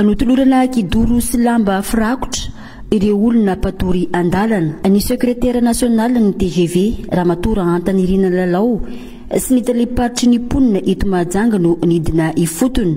Notolorana kidoro sy lamba firakotra ireo olona mpatory andalana ny sekretera nasionalin'ny TGV Ramatoa Rahantanirina Lalao sy ny tale-paritry ny mponina eto Mahajanga no nidina ifotony.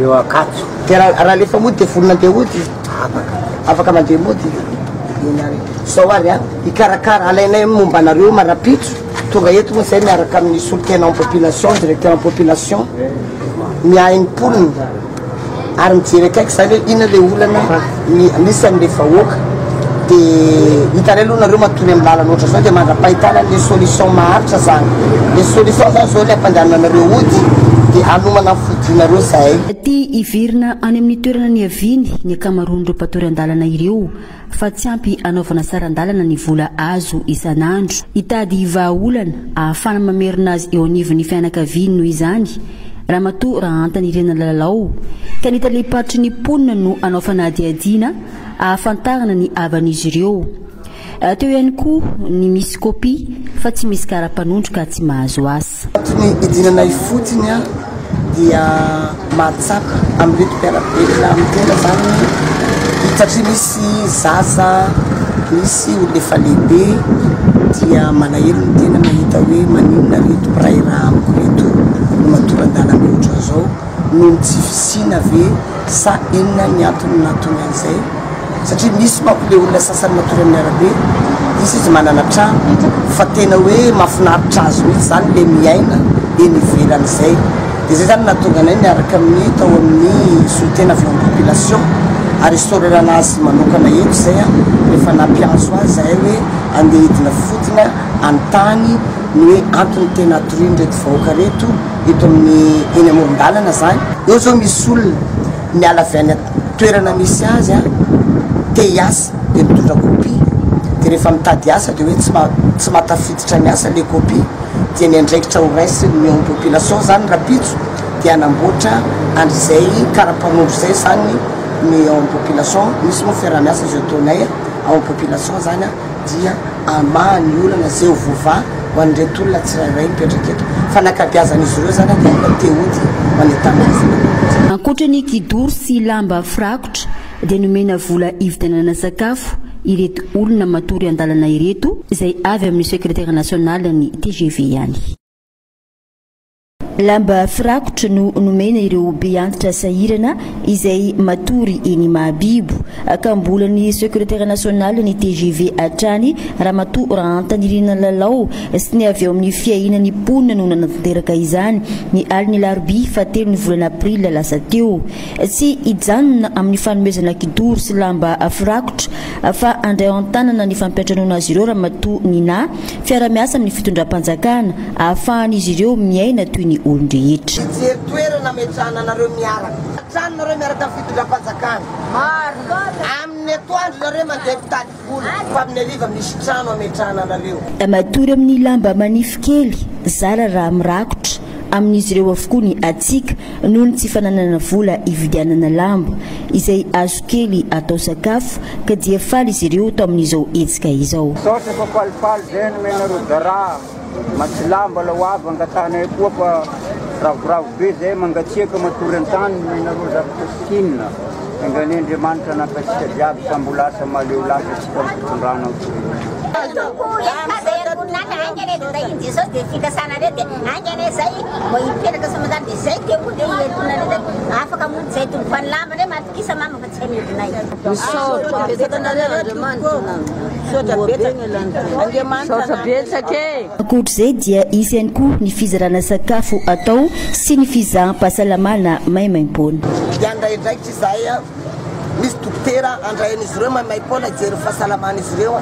eo Ankatso. Dia raha raha alefa mody dia vonona andeha hody izy? Afaka. Afaka mandeha mody izy. Eny ary. Izao ary an, hikarakara, alainay momba anareo ma rahampitso, tonga eto moa izay miaraka amin'ny solontenan'ny population, directeur'ny population, miahy ny mponina, ary mijery akaiky izany hoe inona ilay olana. Ny anisan le vahoaka de hitanay aloha nareo matory am lalana ohatran zao de mandrapahitana anle solution maharitra zany le solution zany zao le ampandehananareo ody de hanomana am fodianareo zahay. Tia hiverina any amin'ny toerana niaviany ny ankamaroan'ireo mpatory an-dalana ireo fa tsy ampy hanaovana saran-dalana ny vola azo isan'andro. Hitady vahaolana ahafahana mamerina azy eo anivon'ny fianakaviany noho izany Ramatoa Rahantanirina Lalao, ka ny talem-paritry ny mponina no hanao fanadihadiana hahafantarana ny havan'izy ireo. Teo ihany koa ny misy kopia fa tsy misy kara-panondro ka tsy mahazo asa. Tato ny hidinana ifotiny aho dia mahatsapa amin'ireto mpiara-belona amin'ny tena izany satria misy Tsy zaza misy olona efa lehibe dia malahelo ny tena mahita hoe maninona reto mpiray rà amiko reto no matoran-dalana ohatran'izao noho ny tsy fisiana ve sa inona ny antony nahatonga an'izay satria misy manko le olona sasany matory amin'ny arabe izy izy manana trano fa tena hoe mahafinaritra azy mihitsy izany le miaina eny ivelan'izay Dia izay izany no nahatonga anay niaraka amin'ny tao amin'ny solontena avy eo amin'ny population ary hisaorerana azy manokana eo izay rehefa nampiantso azy izahay hoe andeha hidina fodina hanontany ny hoe antony tena hatorian'ireto vahoaka ireto eto amin'ny eny amoron-dalana izany. Eo izao misy olona miala avy any toerana misy azy te hiasa dia mitondra copie dia rehefa mitady asa dia hoe tsy mahatafiditra ny asa ilay copie. dia ny andraikitra ho raisin' ny ao population izany rahampitso dia hanamboatra andrizay karapanondro izay izany ny ao am population, misy moa fiarahamiasa izay ataonay ao am population izany an dia hamaha ny olana izay ho voava ho an' ireto olona tsirairay mipetraka eto fa ny ankabiazan' izy ireo izany an dia efa te hody ho any an-tanindrazana kokoa. Ankoatra ny kidoro sy lamba firakotra, dia nomena vola hividianana sakafo ireto olona matory an-dalana ireto izay avy amin'ny sekretera nasionalin'ny tgv ihany. Lamba firakotra no nomena ireo beantitra sahirana izay matory eny Imahabibo ka mbola ny sekretera nasionalin'ny tgv hatrany Ramatoa Rahantanirina Lalao sy ny avy ao amin'ny fiahianan'ny mponina no nanatanteraka izany ny alin'ny alarobia fahatelo ny volana aprily lasa teo. Tsy hijanona amin'ny fanomezana kidoro sy lamba firakotra fa handray ao an-tanana ny fampiantranoana azy ireo Ramatoa Nina, fiara-miasa amin'ny fitondram-panjakana ahafahan'izy ireo miaina toy ny olon-drehetra. Hijery toerana hametrahana anareo miaraka. Hatrany nareo miaraka amin'ny fitondram-panjakana. Marina. Amin'ny atoandro nareo mandeha mpitady. Matory amin'ny lamba manify kely, zara raha mirakotra, amin'izy ireo avokoa ny hatsiaka noho ny tsy fananana vola hividianana lamba, izay hazo kely atao sakafo, ka dia faly izy ireo tamin'izao hetsika izao. Matsilahy mbola ho avy angatanay koa fa ravoravo be zay, mangatsiaka matory an-tany noho ianareo zavatra sikinina, engan'ny Andriamanitra hanaka antsika jiaby sa mbola asa mahaleo lasa antsika amin'ny fitondrana amin'ny firenena. Tsy amidinay. Misaotra betsaka anareo Andriamanitra Misaotra betsaka e. Ankoatr'izay dia hisy ihany koa ny fizarana sakafo atao sy ny fizaham-pahasalamana maimaimpoana. Hiandray andraikitra izahay a! Misy dokotera andraian'izy ireo maimaimpoana hijery ny fahasalaman'izy ireo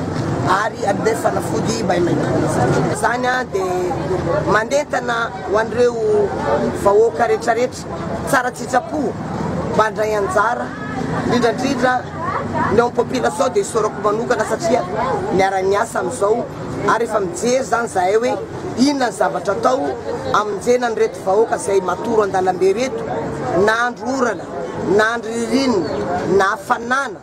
ary hanome fanafody maimaimpoana. Izany dia mandentana ho an'ireo vahoaka rehetrarehetra. Tsara tsitsapo mba handray anjara indrindra indrindra ny ao population dia isaorako manokana satria miara miasa amin'izao ary efa mijery izany zahay hoe inona ny zavatra atao amonjena an'ireto vahoaka izay matoro andalambe reto na andro orana na andro ririnina na hafanana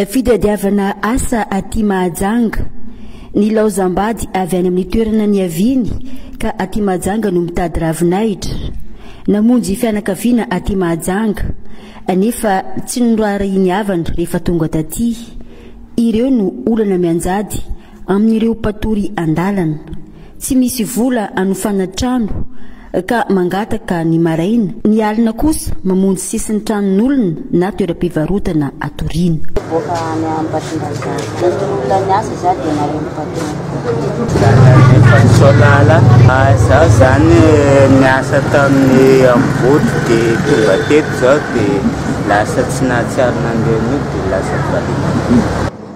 Fitadiavana asa aty Mahajanga. Nilaozam-bady avy any amin'ny toerana niaviany ka aty Mahajanga no mitady ravinahitra. Namonjy fianakaviana aty Mahajanga, nefa tsy noraharahiany havana rehefa tonga taty. Ireo no olana mianjady. amin'ireo mpatory an-dalana, tsy misy vola hanofana trano ka mangataka ny maraina, ny alina kosa mamonjy sisin-tranon'olona na toeram-pivarotana hatoriana. Mivoaka any Ambatondrazaka. Raha tsy olona niasa za dia nareo mpitory. Zalahy Solala, zaho zany niasa tamin'ny Ambohibotra dia tonga teto zao dia lasa tsy nahatsiaro nandre an'io dia lasa valiana.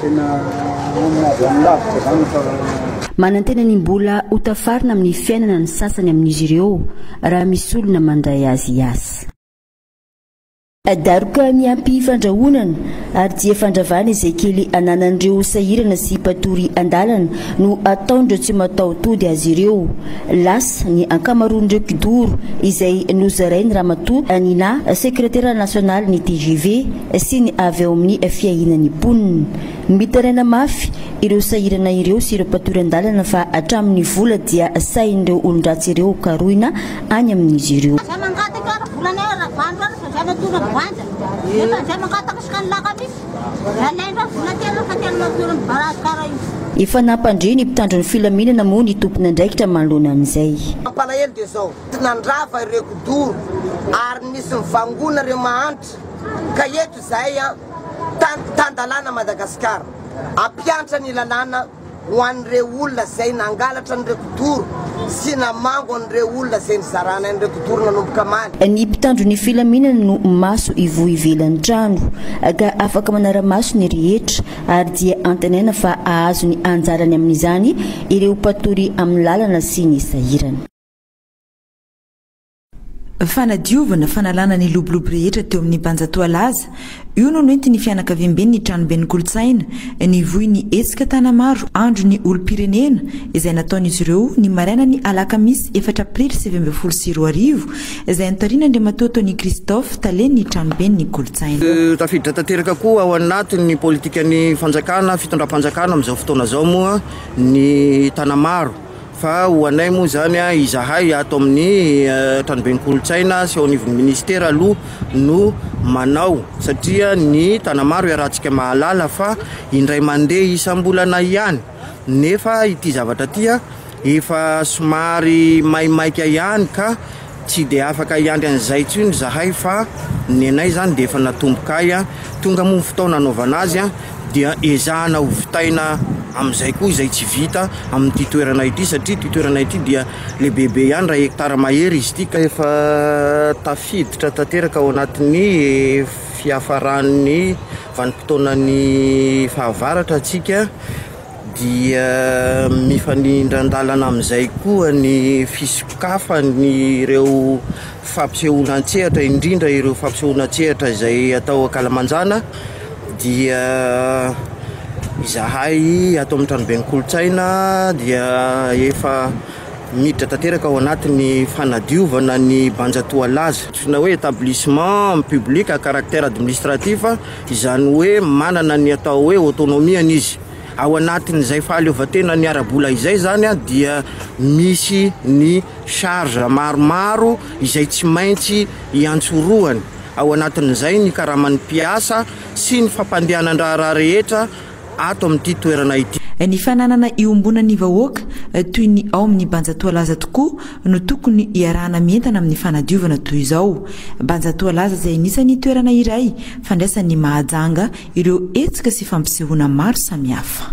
Tena olona avy any lavitra izany fa. Manantena ny mbola ho tafarina amin'ny fiainana ny sasany amin'izy ireo raha misy olona mandray azy hiasa. Daroka miampy fandrahonana ary dia fandravana izay kely ananan'ireo sahirana sy mpatory andalana no ataon'ireo tsy mataho-tody azy ireo. Lasa ny ankamaroan'ireo kidoro izay nozarain'ny Ramatoa Nina, sekretera nasionalin'ny tgv, sy ny avy ao amin'ny fiahiana ny mponina. Mitaraina mafy ireo sahirana ireo sy ireo mpatory an-dalana fa hatramin'ny vola dia sahin'ireo olon-dratsy ireo karohina any amin'izy ireo. Izay mangataka ary volanay ary ravandro ary fa izay matory amin'ny voanja. Nefa izay mangataka isaka ny lakamisy dia alaindreo ny vola tena rehefa tena matory amin'ny barasikara iny. Efa nampandre ny mpitandro ny filaminana moa ny tompon'andraikitra manoloana an'izay. Mampalahelo dia izao, nandrava ireo kidoro ary nisy nivangona ireo mahantra. Ka eto izay an, tan-dalàna Madagasikara, hampiantra ny lalàna ho an'ireo olona izay nangalatra an'ireo kidoro sy namango an'ireo olona izay nizarana an'ireo kidoro nanomboka maly. Ny mpitandro ny filaminana no maso ivoho ivelan'ny trano, ka afaka manara-maso ny rehetra, ary dia antenaina fa hahazo ny anjarany amin'izany ireo mpatory amin'ny lalana sy ny sahirana. Fanadiovana, fanalana ny lobolobo rehetra teo amin'ny Banja Toalaza. Io no nentin'ny fianakaviamben'ny Tranoben'ny Kolontsaina. Nivoy ny hetsika Tanamaro, Andro ny olom-pirenena, izay nataon'izy ireo, ny marainan'ny alakamisy efatra aprily sivy ambin'ny folo sy roa arivo, izay notarian'Andriamatoa Tony Christophe, talen'ny Tranoben'ny Kolontsaina. Tafiditra tanteraka koa ao anatin'ny politikan'ny fanjakana, fitondram-panjakana amin'izao fotoana izao moa ny Tanamaro. Fa ho anay moa izany, izahay ato amin'ny Tranoben'ny Kolontsaina sy ao anivon'ny Minisitera aloha no manao satria ny Tanamaro iarahantsika mahalala fa indray mandeha isam-bolana ihany nefa ity zavatra ity efa somary maimaika ihany ka Tsy dia afaka hiandry an'izay intsony izahay fa ny anay izany dia efa natomboka ahy. Tonga moa ny fotoana hanaovana azy dia ezahana ho vitaina amin'izay koa izay tsy vita amin'ity toerana ity satria ity toerana ity dia lehibebe ihany raha hekitara mahery izy ity ka efa tafiditra tanteraka ao anatin'ny fiafaran'ny vanim-potoanan'ny fahavaratra isika. dia mifanindran-dalana amin'izay koa ny fisokafan'ireo fampisehoana an-tsehatra, indrindra ireo fampisehoana an-tsehatra izay atao ankalamanjana, dia izahay ato amin'ny tranoben'ny kolontsaina dia efa miditra tanteraka ao anatin'ny fanadiovana ny Banja Toalaza, antsoina hoe établissement public à caractère administratif. izany hoe manana ny atao hoe autonomie-ny izy. Ao anatin'izay fahaleovantenany ara-bola izay izany dia misy ny charges maromaro izay tsy maintsy iantsorohany, ao anatin'izay ny karaman'ny mpiasa sy ny fampandehanan-draharaha rehetra, ato amin'ity toerana ity. Ny fananana iombonan'ny vahoaka toy ny ao amin'ny Banja Toalaza tokoa no tokony iarahana mientana amin'ny fanadiovana toy izao. Banja Toalaza izay anisan'ny toerana iray fandraisan'ny Mahajanga ireo hetsika sy fampisehoana maro samihafa.